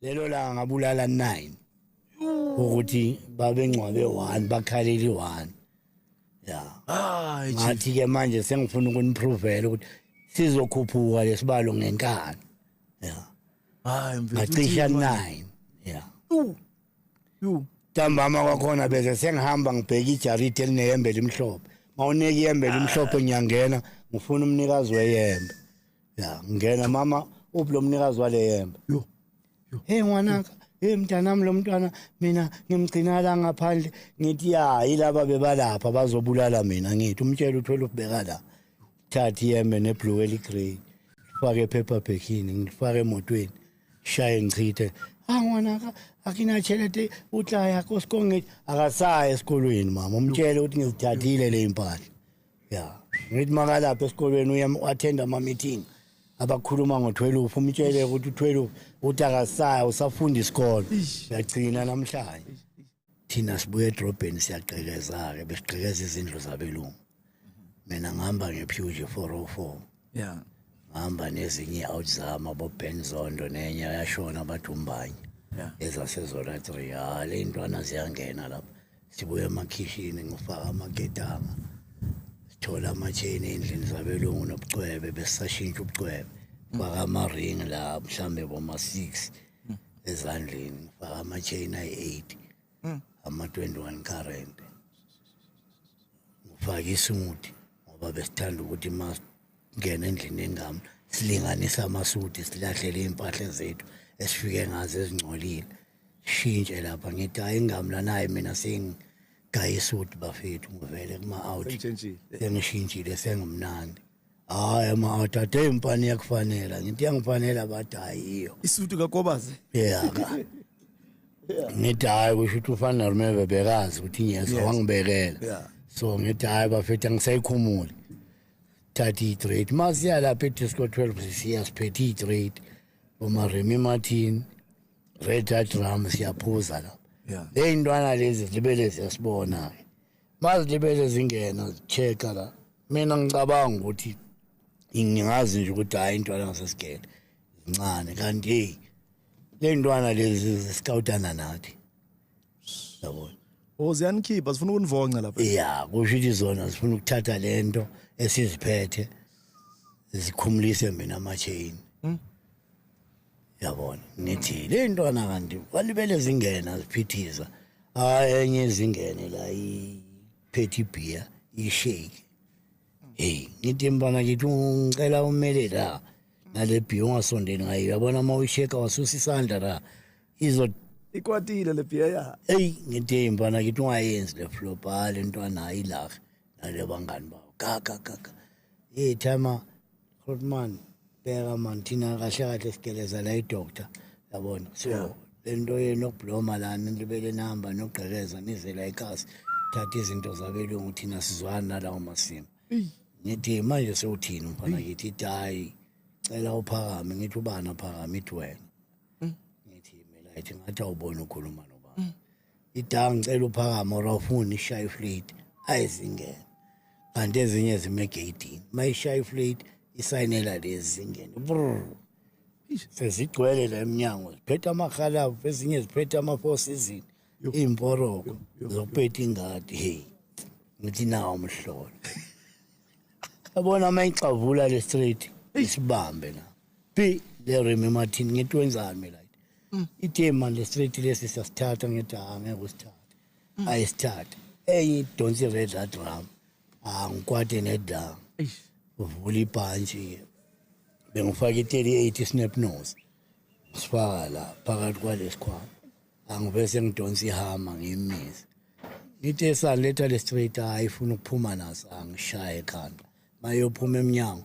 lelo langa ngabulala 9 ukuthi babengcwabe one bakhaleli one ya hayi ngathi ke manje sengifuna ukuniphrovela ukuthi sizokhuphuka lesibalo ngenkani ya hayi ngacisha 9 ya yu ntambama kwakhona bese sengihamba ngibheka ijaridi elineyembe elimhlophe mawuneka iyembe elimhlophe ngiyangena ngifuna umnikazi weyembe ya ngena mama uphi lo mnikazi wale yembe yo hey ngwanaka hey mntanami lo mntwana mina ngimgcina la ngaphandle ngithi ya yilaba bebalapha bazobulala mina ngithi umtshela uthwele ubheka la thathi yembe neblue eligrey fake paper backini ngifake emotweni shaye ngichithe ah ngwanaka akinatshelete utlaya kosikongeti akasaye esikolweni mama umtshele ukuthi ngizithathile le impahla ya ngithi makalapha esikolweni uye wathenda ama-meeting abakhuluma ngo-twelve umtshele ukuthi u-twelve ukuthi akasaya usafunda isikolo uyagcina namhlanje thina sibuye edrobheni siyagqekeza-ke besigqekeza izindlu zabelungu mina ngihamba ngephewje four o oh four yeah hamba nezinye i-out zama boben zondo nenye yashona bathi umbanye yeah. ezasezona three ha le ntwana ziyangena lapha sibuye emakhishini ngifaka amaketanga sithola amatheni endlini zabelungu nobucwebe besisashintsha ubucwebe faka ama-ring la mhlawumbe boma-six hmm. ezandleni faka amatheni ayi-eight mm. ama 21 current ngifake isimuthi ngoba besithanda ukuthi ma ngena endlini engami silinganisa amasuthi silahlele impahla zethu esifike ngazo ezingcolile shintshe lapha ngithi hayi ingami lanaye mina sengi gayisuthi bafethu ngivele kuma-out sengishintshile sengimnandi hayi ma uthathe impani yakufanela ngithi yangifanela bathi hayiyo isudu kakobazi yeah ka ngithi hayi kusho ukuthi ufana nomeve bekazi ukuthi ngiyezwa wangibekela yeah so ngithi hayi bafethu angisayikhumuli thatha i-trade ma siya lapha edisco 12 sisiya siphethe i-trade bomaremi martin red hat ram siyaphuza lapha yeah ley'ntwana lezi zibele ziyasibona-ke mazilibele zingena check la mina ngicabanga ukuthi ngingazi nje ukuthi hayi intwana ngasesigele zincane kanti hey le ntwana lezi ziscoutana nathi yabona o oh, ziyanikhipha zifuna ukunivonca lapha ya kusho ukuthi zona zifuna ukuthatha le nto esiziphethe zikhumulise mina ama-chain hmm? yabona ngithi le ntwana kanti walibele zingena ziphithiza hayi enye izingene la iphethe ibhiya ishake hey ngithi mfana ngithi ngicela umele la nale bhiya ungasondeli ngayo yabona uma uyisheka wasusa isandla la izo ikwatile le bhiya ya eyi ngithi mfana ngithi ungayenzi le flop hayi le ntwana ayilaphi nale bangani bawo kaka kaka hey thama Goodman bheka man thina kahle kahle sigeleza la idoctor yabona so yeah. lento yenu okubloma lana libele nihamba nogqekeza nize la ekhasi thatha izinto zabelungu thina sizwana nalawo masimo ngithi manje sewuthini mfana ngithi itayi cela uphakame ngithi ubani aphakame ithi wena hmm. ngithi mina ithi ngathi awubona ukhuluma nobani hmm. idawu ngicela uphakama or awufuni ishaye iflate ayizingene kanti ezinye zime egeyidini uma ishaya iflate isayinela lezi zingene sezigcwele la emnyango ziphethe amakhalavu ezinye ziphethe ama-four season iy'mporoko zokupetha ingadi heyi ngithi nawo umhlolo yabona uma ixavula le straight isibambe la Be le Remy Martin ngithi wenzani mina like. Mm. Ithe manje straight lesi sasithatha ngithi ha ngeke usithathe. Mm. Ayisithathe. Eyi don't you read that drum. Ah ngikwade nedam. Eish. Uvula ibhantshi. Bengifaka i-38 snap nose. Sifaka la phakathi kwalesikhwama. Angibese ngidonsa ihama ngiyimisa. Ngithe esaletha le straight ayifuna ukuphuma naso angishaye ekhanda. Mayophuma eminyango.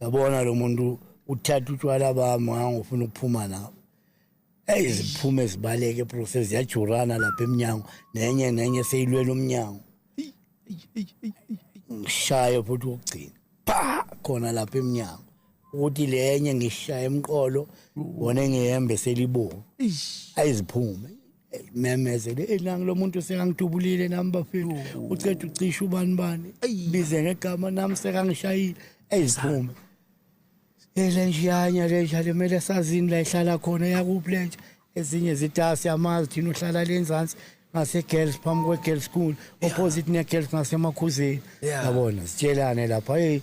yabona lo muntu uthatha utshwala bami ngangofuna ukuphuma nabo eyi ziphume zibaleke process ziyajurana lapha emnyango nenye nenye seyilwela umnyango ngishaye futhi wokugcina pha khona lapha emnyango ukuthi lenye ngishaye emqolo wona engihembe selibomvu ayiziphume memezele elangi lomuntu sekangidubulile nami bafethu uceda ucisha ubani bani bize ngegama nami sekangishayile eyiziphume ele njiyanya le njalo kumele sazini la ihlala khona yakuphi le nje ezinye zitasi amazi thina uhlala le nzansi ngase-girls phambi kwe-girls school opposite ne-girls ngasemakhuzeni yabona sitshelane lapha eyi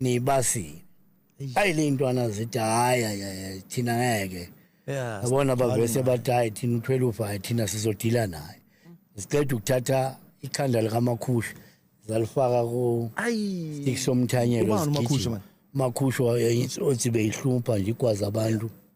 nibasile ayi le ntwana zithi hayi hayi thina ngeke yabona bavese bathi hayi thina uthwele ufa hayi thina sizodila naye siqeda ukuthatha ikhanda likamakhusha zalifaka ku stick somthanyelo makhusha othi beyihlupha nje igwaza abantu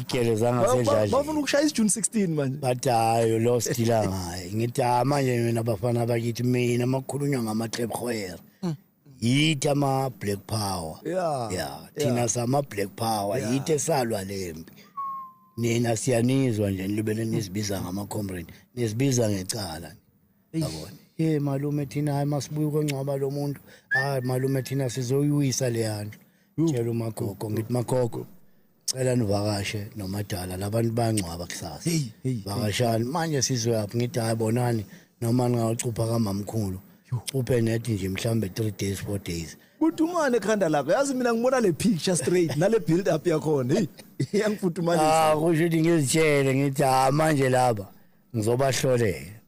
igele zangasedlali bafuna ukushaya isijuni 16 manje bathi hayi lo sidila ngaye ngithi ah manje mina bafana bakithi mina makhulunywa ngama trap hoyer mm. yithi ama black power yeah yeah thina sama black power yithi esalwa lempi nina siyanizwa nje nilibele nisibiza ngama comrade nisibiza ngecala yabona ye malume thina hayi masibuye ukongcwaba lo muntu hayi malume thina sizoyiwisa leya ndlu tshela umagogo ngithi magogo cela nivakashe nomadala labantu bayangcwaba kusasa vakashani manje sizoyaphi ngithi hayi bonani noma ningawucupha kamamkhulu uphe nethi nje mhlambe 3 days 4 days kutumane ekhanda lakho yazi mina ngibona le picture straight nale build up yakhona hey iyangifudumanisa ah kusho ukuthi ngizitshele ngithi ha ah, manje laba ngizobahlolela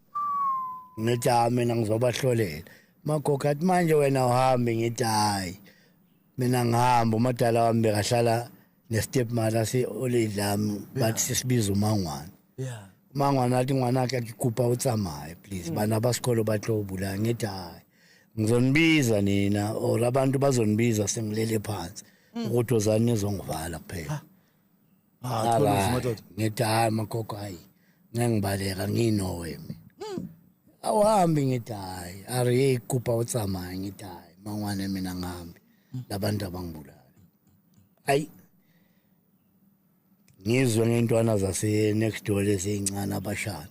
ngithi hayi mina ngizobahlolela magogo athi manje wena uhambe ngithi hayi mina ngihamba umadala wami bekahlala ne-step mother si-olidlami bathi sisibiza umangwane yeah mangwane athi ngwanakhe akikupa utsamaye please mm. bana basikolo batlobula ngithi hayi ngizonibiza nina or abantu bazonibiza sengilele phansi mm. ukuthi ozani nizongivala kuphela Ah, khona madoda. Ngithi hayi magogo hayi. Ngengibaleka nginowe mina. Hmm. Awuhambi ngithi hayi. Ari ikupa utsamaya ngithi hayi. Mangwane mina ngihambi. Hmm. Labantu abangibulala. Ayi. Ngizwe ngentwana zase next door lezincane abashana.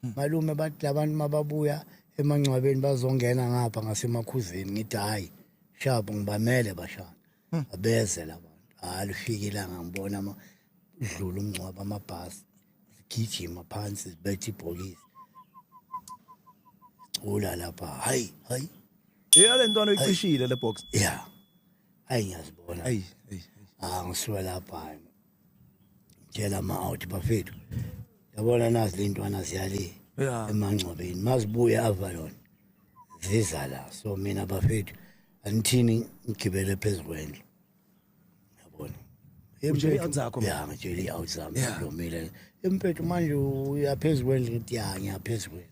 Hmm. Malume bathi labantu mababuya emangcwabeni bazongena ngapha ngasemakhuzeni ngithi hayi. Shabo ngibamele bashana. hmm. abeze labantu hayi lufikile ngangibona ama dlula umngcwaba amabhasi zigijima phansi zibethe ibhokisi cula lapha hayi hayi eyale ntwana uyicishile le box yeah hayi ngiyazibona hayi hayi ah ngisuka lapha tshela ama-out bafethu yabona nazi le ntwana ziyale Yeah. emangcwabeni mazibuye avalon ziza la so mina bafethu anithini ngigibele phezu kwendlu yabona Utshele i-out zakho, ma? ya ngitshele i-out zami Yeah. ngilomile empethu manje uyaphezu kwendlu ngithi ya ngiyaphezu kwendlu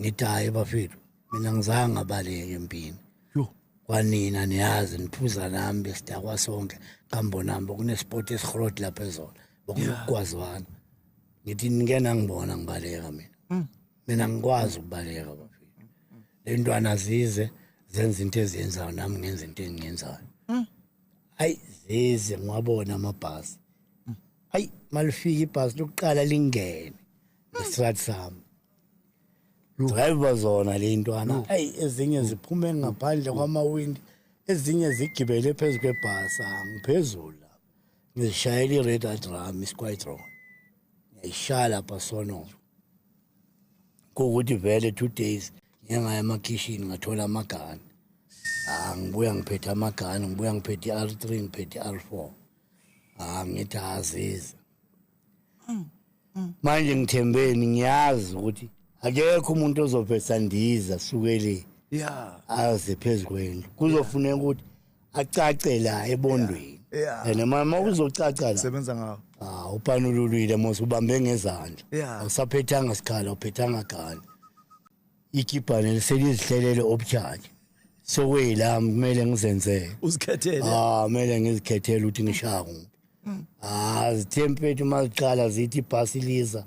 ngithi hayi bafethu mina ngizange ngabaleke empini kwanina niyazi niphuza nami besidakwa sonke kambonami bokunesport esirhot lapha ezona bokunokugwazwana ngithi ngena ngibona ngibaleka mina hmm. mina ngikwazi ukubaleka bafethu le ntwana zize zenza into eziyenzayo nami ngenza into engiyenzayo hmm. ayi zize ngiwabona amabhasi hmm. ayi malifika ibhasi lokuqala lingene ngesikhathi sami driver zona le ntwana ayi ezinye ziphume ngaphandle kwamawindi ezinye zigibele phezu kwebhasa ngiphezulu lapha ngizishayela i-red adram isiquitron ngiyayishaya lapha sonova kuwukuthi vele two days ngiyengaya emakhishini ngathola amagani ah, ngibuya ngiphethe amagani ngibuya ngiphethe i-r three ngiphethe i-r four ah, ngithi aziza mm, mm. manje ngithembeni ngiyazi ukuthi akekho umuntu ozovesa ndiza sukele ya aze phezukweni kuzofuneka ukuthi acace la ebondweni and mama uzocaca la sebenza ngawo ah upanululwile mos ubambe ngezandla awusaphethanga sikhala uphethanga gani ikibhane selizihlelele obujaki sokweyilami kumele ngizenzele uzikhethele ah kumele ngizikhethele ukuthi ngishaya kuphi mm. ah zithempethu uma ziqala zithi ibhasi liza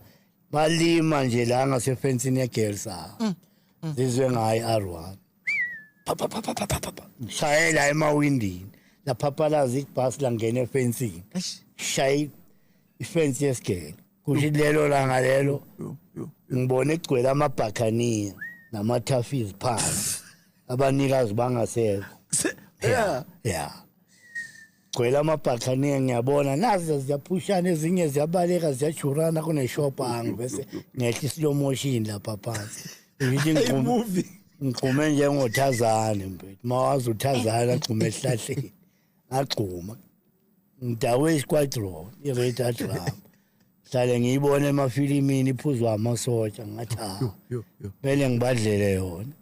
balima nje la ngasefensini yegirls ah mm. mm. zizwe ngayi r1 shayela emawindini laphapalaza ibhasi langena efensini shayi ifensi yesigele kuthi lelo langa lelo ngibone igcwele amabhakhaniya namathafizi phansi abanikazi bangasekho yeah yeah gcwele amabhathaniya ngiyabona naze ziyaphushana ezinye ziyabaleka ziyajurana kuneshopa angi bese ngehla islow motion lapha phansi ngithi ngigqume ngigqume njengothazane mfethu mawazi uthazane agqume esihlahleni agxuma ngidawe isquadron i-radar drum hlale ngiyibona emafilimini iphuzwa amasotsha ngathi kumele ngibadlele yona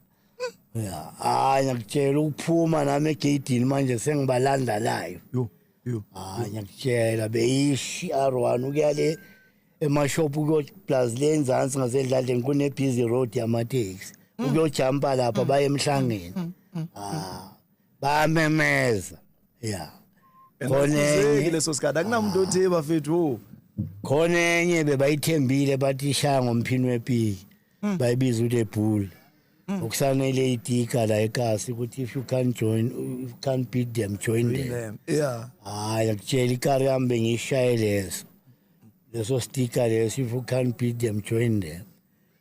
ya hayi ngiyakutshela ukuphuma nami egeyidini manje sengibalanda layo yo yo hayi ngiyakutshela beyishi r1 ukuya le emashophu kuyoplus le enzansi ngasedladleni kune-busy road yamateksi mm. ukuyojampa lapha mm. baye emhlangeni mm, ah, bamemeza ya khona enye leso sikhathi akunamuntu othi bafethu khona enye bebayithembile bathi ishaya ngomphini wepiki mm. bayibiza uThe Bull mm. okusanele itika la ekasi ukuthi if you can't join you can't beat them join them, them. yeah hayi akutshela ikari yami bengishaye leso leso sticker leso if you can't beat them join them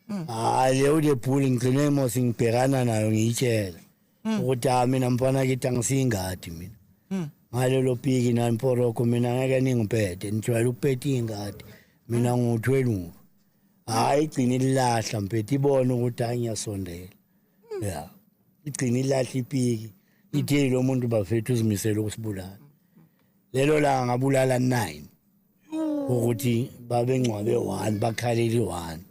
mm. hayi leyo uThe Bull ngigcine mos ngibhekana nayo ngiyitshela mm. ukuthi ha ah, mina mfana kithi angisiyingadi mina mm. ngalelo piki nani poroko mina ngeke ningipete nijwayele ukupeta iy'ngadi mina ngiwuthweluka hhayi igcina ililahla mpete ibone ukuthi hhayi ngiyasondela mm. ya igcina ilahla ipiki ithe lo muntu bafethu uzimisele ukusibulala lelo langa ngabulala nine ukuthi babengcwabe one bakhaleli one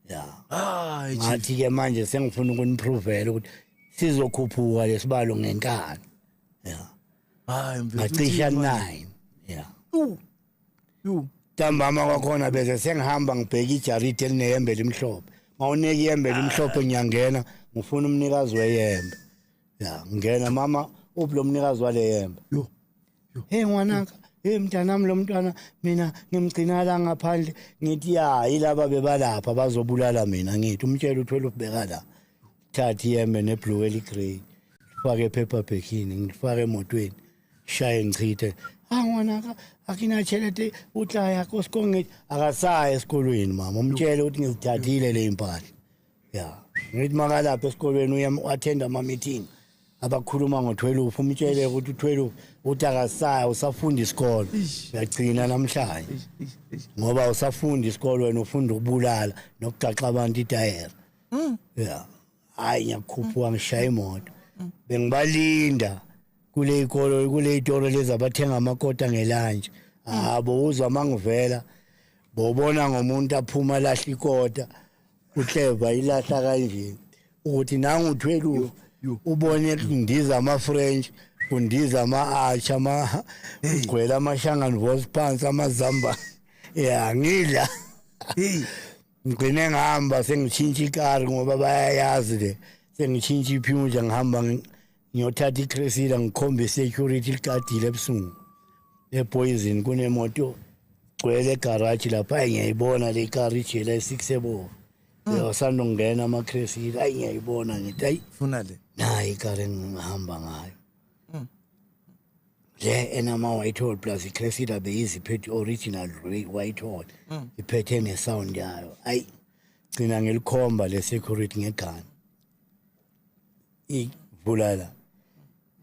ya hayi chief ngathi ke manje sengifuna ukuniphrovela ukuthi sizokhuphuka lesibalo ngenkani ya hayi mfethu ngacisha uthini manje? 9 ya Yu, yu ntambama kwakhona bese sengihamba ngibheke ijaridi elinehembe elimhlophe ngawunika ihembe elimhlophe ngiyangena ngifuna umnikazi weyembe ya ngena mama uphi lo mnikazi wale yembe yo hey ngwanaka hey mntanami lo mntwana mina ngimgcina la ngaphandle ngithi ya yilaba bebalapha bazobulala mina ngithi umtshela uthwele ubheka la thathi yembe neblue eligrey fake paper backini ngifake emotweni shaye ngichithe ah ngwanaka akinachelete utlaya kosikonge akasaye esikolweni mama umtshele ukuthi ngizithathile le impahla ya ngithi makalapha esikolweni uye u-attend ama-meeting abakhuluma ngo-tweluph umtshele ukuthi u-tweluph uthi akasaya usafunda isikolo uyagcina namhlanje ngoba usafunda isikolo wena ufunda ukubulala nokugaxa abantu itayera mm. ya hhayi ngiyakukhuphuka ngishaya imoto mm. bengibalinda kule ikolo kule itolo lezi abathenga amakota ngelanje mm. habo uzwa mangivela bobona ngomuntu aphuma lahle ikota uhleva ilahla kanje ukuthi nangu uthwelu ubone kundiza ama French kundiza ama arch ama gcwele ama shangan voice pants ama zamba ya ngidla ngigcine ngihamba sengitshintsha ikari ngoba bayayazi le sengitshintsha iphunja ngihamba ngiyothatha iCressida ngikhombe security ligadile ebusungu epoison kunemoto gcwele egarage lapha ayi ngiyayibona le car ijela esikusebovu hmm. yosanda ukungena amaCressida ayi ngiyayibona ngithi ayi funa le nayi ikar engihamba ngayo hmm. le enama-white hall plus iCressida beyiziphethe original white hall hmm. iphethe nesound yayo ayi gcina ngilikhomba le security ngegani ivulala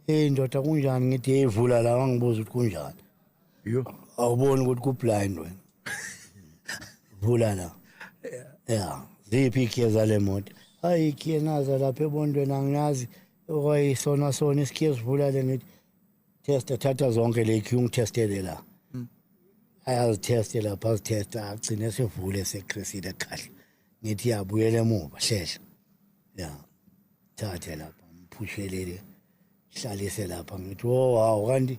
hey ndoda kunjani ngithi hey vula la wangibuza ukuthi kunjani yo awuboni ukuthi ku blind wena vula la yeah ziphi ikhiye zale moto hayi ikhiye naza lapha ebondweni angiyazi okwayisona sona isikhiye sivula le ngithi testa thatha zonke le ikhiye ungithestele la hmm. ayazitheste lapha azithesta agcine sivule sekhrisile kahle ngithi yabuyela emuva hlehla ya thathe lapha ngiphushelele hlalise lapha ngithi wo oh, hawu kanti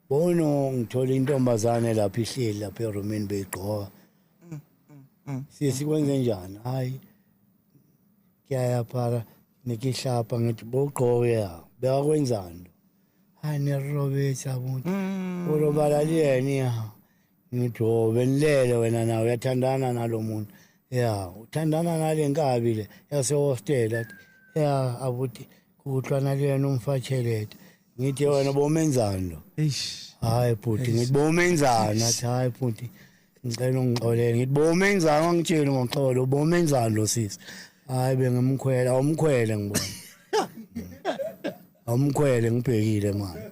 bono ngithola intombazane lapha ihleli lapha erumini beyigqoka mm, mm, mm. sisi kwenze njani hayi ngiyayaphara nikihlapha ngithi bogqoke ya bewakwenzani hayi nirobetha kuthi urobalali yena ya ngithi o oh, benilele wena nawe uyathandana nalo muntu ya uthandana nale nkabi le yasehostela ya abuti kuhlwana kuyena umfatshelete ngithi wena bomenzani lo hayi bhuti ngithi bomenzani athi hayi bhuti ngicela ungixolele ngithi bomenzani wangitshela ngoxolo bomenzani lo sisi hayi bengimkhwela awumkhwele ngibona awumkhwele ngibhekile manje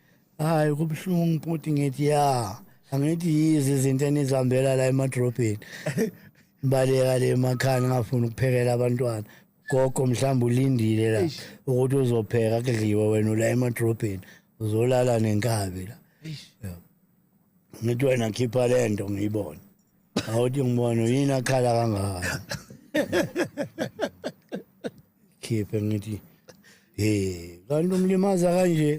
hayi kubuhlungu bhuti ngithi ya angithi yizi izinto enizihambela la emadrobheni baleka le emakhaya ngingafuni ukuphekela abantwana gogo mhlawumbe ulindile la ukuthi uzopheka kudliwe wena ula emadrobheni uzolala nenkabi la ngithi wena khipha le nto ngiyibone awuthi ngibone yini akhala kangaka khiphe ngithi hey kanti umlimaza kanje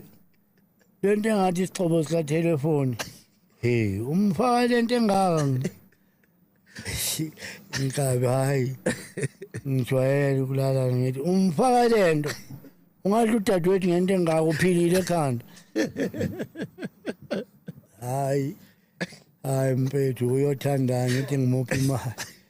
lento engathi isixhobo sika telephone hey umfaka lento engaka ngikabi hayi ngijwayele ukulala ngithi umfaka lento ungadla udadewethu ngento engaka uphilile ekhanda hayi hayi mpethu uyothandani uthi ngimuphi imali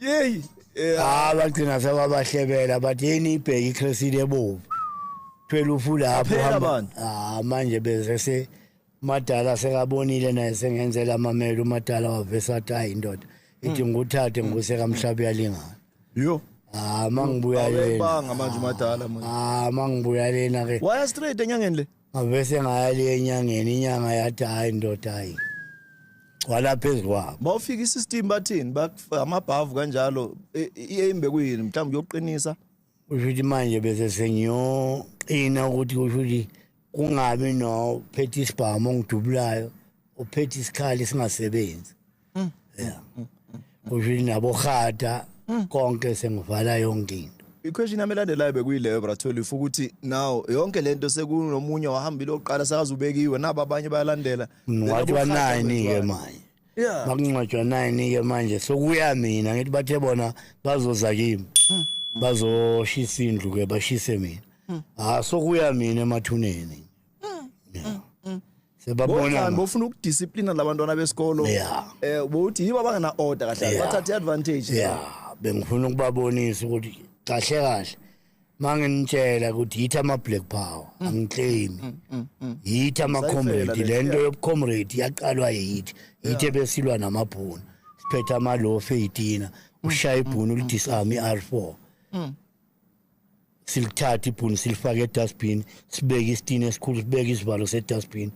yeyi Ah bagcina sebabahlebela but yini ibheki iCresile ebovu. Phela ufulapho Aphela hamba. abantu. Ah manje bese se madala sekabonile naye sengenzela amamelo umadala wavesa athi hayi indoda ithi nguthathe nguse kamhlabi yalingana. yo Ah mangibuya lena. awebanga manje umadala manje Ah mangibuya lena ke. waya straight enyangeni le ngavese ngayali enyangeni inyanga yathi hayi ndoda hayi gcwala phezu kwabo uma ufika isystem bathini amabhavu kanjalo i-aim bekuyini mhlawumbe uyoqinisa usho ukuthi manje bese sengiyoqina ukuthi kusho ukuthi kungabi nophethe isibhamu ongidubulayo ophethe isikhali singasebenzi Mm. Yeah. Mm. Kusho nabo khada mm. konke sengivala yonke into. iquestion yami elandelayo bekuyileyo bratholi ufa ukuthi now yonke le nto sekunomunye wahambile oqala sakazubekiwe nabo abanye bayalandela ngingcwatshwa nani-ke manje yeah. bakungcwatshwa nani-ke manje sokuya mina ngithi bathe bona bazoza kimi hmm. bazoshisa indlu-ke bashise mina hmm. ha ah, sokuya mina emathuneni sebabona bofuna ukudisciplina labantwana besikolo eh bothi yiba bangana order kahle bathatha advantage yeah bengifuna ukubabonisa ukuthi kahle kahle manginitshela ukuthi yithi ama black power mm. angiclaim mm, mm, yithi ama comrade lento yobu comrade yaqalwa yithi yithi besilwa namabhunu siphetha ama lofe yitina ushaya ibhunu lidisarm i R4 silithathe ibhuni silifake edustbin sibeke isitini esikhulu sibeke isivalo sedustbin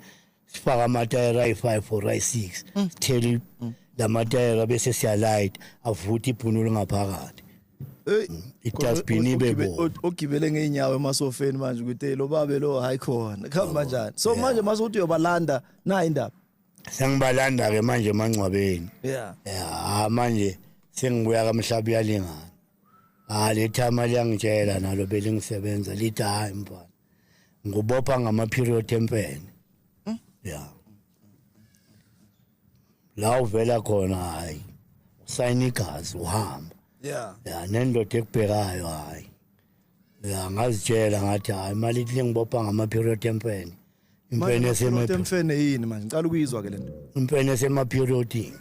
sifake amatayera ayi-five or ayi-six mm. sithele mm. la matayera bese siyalayit avuthe ibhuni olungaphakathi mm. idustbin ibe ogibele ngey'nyawo emasofeni manje ukuthi lo babe lo hayi khona kuhamba njani so manje mase ukuthi uyobalanda nayi indaba sengibalanda-ke manje emangcwabeni ya manje sengibuya kamhlaba uyalingana Ah lethama liyangitshela nalo belingisebenza lithi hayi mfana. Ngubopha ngama period empene. Hmm? Yeah. La uvela khona hayi. Usayina igazi uhamba. Yeah. Yeah nendoda ekubhekayo hayi. ya ngazitshela ngathi hayi imali ithi ngibopha ngama-period empene impene esemempene yini manje ngicala ukuyizwa ke le nto impene esemaperiodini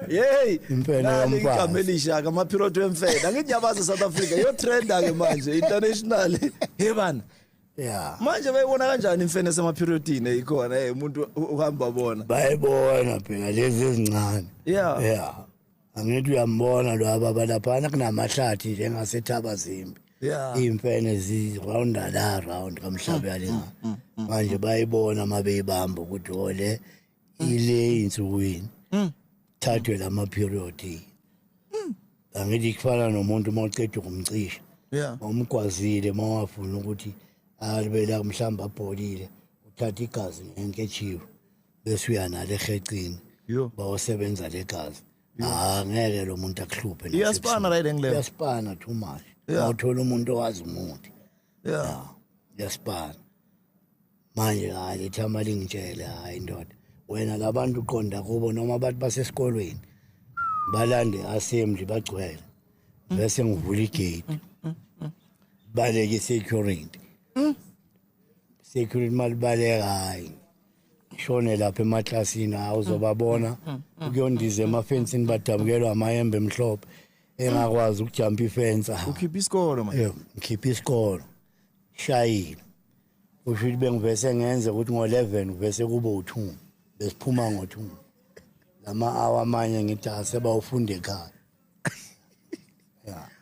yeyi impenoigama elishaka amaphirothi wemfeda nginyabazi e-south africa yotrenda ke manje international he bana ya manje bayibona kanjani imfene esemaphirothini eyikhona e umuntu uhamba bona bayibona phela lezi ezincane ya ya angithi uyambona lo ababa laphana kunamahlathi nje engasethaba zimbi yeah. iy'mfene zirounda la round kamhlabe mm, yalena mm, mm, mm, manje mm. bayibona uma beyibamba ukuthi ole oh, ile insukwini mm. thathwe la ma-period mm. angithi kufana nomuntu uma uceda ukumcisha yeah. omgwazile uma wafuna ukuthi alibela mhlawumbe abholile uthatha igazi ngenketshiwe bese uya nale ekhecini Yo. bawosebenza legazi ah ngeke lo muntu akuhluphe nasebusuku. Iyaspana right engileva. iyaspana too much Yeah. awuthola umuntu owazi umuthi Yeah. iyaspana manje hayi ithama lingitshele hayi ndoda wena labantu uqonda kubo noma abantu basesikolweni balande assembly bagcwele bese ngivula igate baleke security security malibaleka hayi shone lapha emaklasini hawu uzobabona mm, mm, mm, ukuyondiza emafensini badabukelwa amayembe emhlophe engakwazi ukujampa ifensa ukhipha isikolo manje yebo ngikhipha isikolo shayile usho ukuthi bengivese ngenze ukuthi ngo-11 kuvese kube u-2 besiphuma ngo-2 lama-awa amanye ngithi asebawufunda ekhaya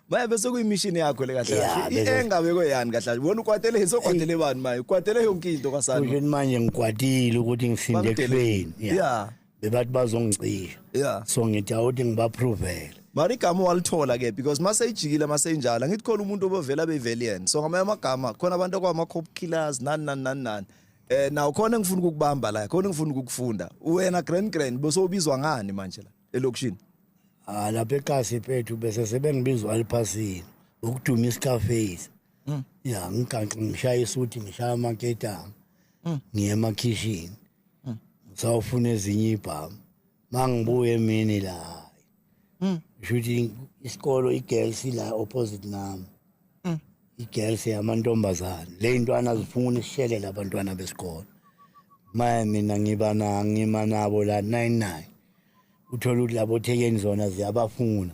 Maya bese kuyimishini yakho le kahle Yeah, kahle. bese- Engabe koyani kahle kahle. Wena ukwatele hisa ukwatele bani maye? Ukwatele yonke into kwasana. kusho ukuthi manje ngikwatile ukuthi ngisinde Bamdele. ekufeni Yeah. Yeah. bebathi bazongicisha Yeah. so ngithi awuthi ngibaprovele Mari igama walithola ke because mase ijikile mase injalo ngithi khona umuntu obevela bevelian. So ngamanye amagama khona abantu kwama cop killers nani nani nani nani. Eh nawo khona engifuna ukukubamba la, khona engifuna ukukufunda. Wena grand grand bese ubizwa ngani manje la? elokishini ah lapha eqasi phethu bese sebengibizwa aliphasini ukuduma iscarface mm. ya ngiganxa ngishaya isuthi ngishaya amaketanga mm. ngiye emakhishini mm. ngisawufuna ezinye ibhamu mangibuye emini la mm. shuthi isikolo igirls la opposite nami mm. igirls yamantombazane le ntwana zifuna isishelela abantwana besikolo maye mina ngiba na ngima nabo la 99 uthole ukuthi labo thekeni zona ziyabafuna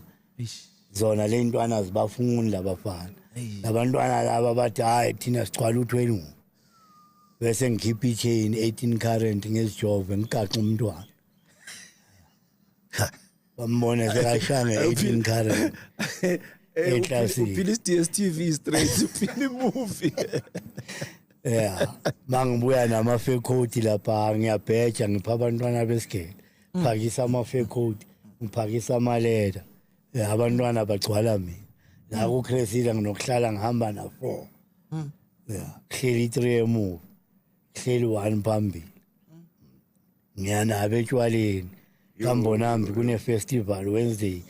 zona le ntwana zibafuni labafana labantwana laba bathi hhayi thina sigcwala u-twenty bese ngikhipha i-chain eighteen current ngezijove ngigaxe umntwana bambone sekashanga eighteen current eklasini uphila i-dstv straight uphila imuvi yeah mangibuya nama fake coat lapha ngiyabheja ngipha abantwana besigele mm. phakisa ama fake coat ngiphakisa ama letter eh, abantwana bagcwala mina la ku Cresida nginokuhlala ngihamba na 4 mm. yeah hleli 3 emuva hleli 1 phambili mm. ngiyana abetshwaleni kambonambi kune festival Wednesday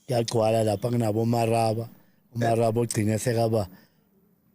kuyagcwala lapha kunabo maraba umaraba ogcine sekaba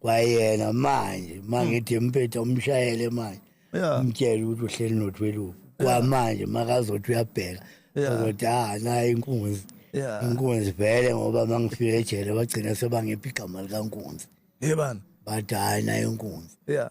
kwayena manje mangithi hmm. mpetha umshayele manje umtshele ukuthi uhleli nothweluku kwamanje makazothi uyabheka ozothi ah naye inkunzi inkunzi vele ngoba mangifike ejele bagcina sebangiphi igama likankunzi yebani bathi hayi naye inkunzi yeah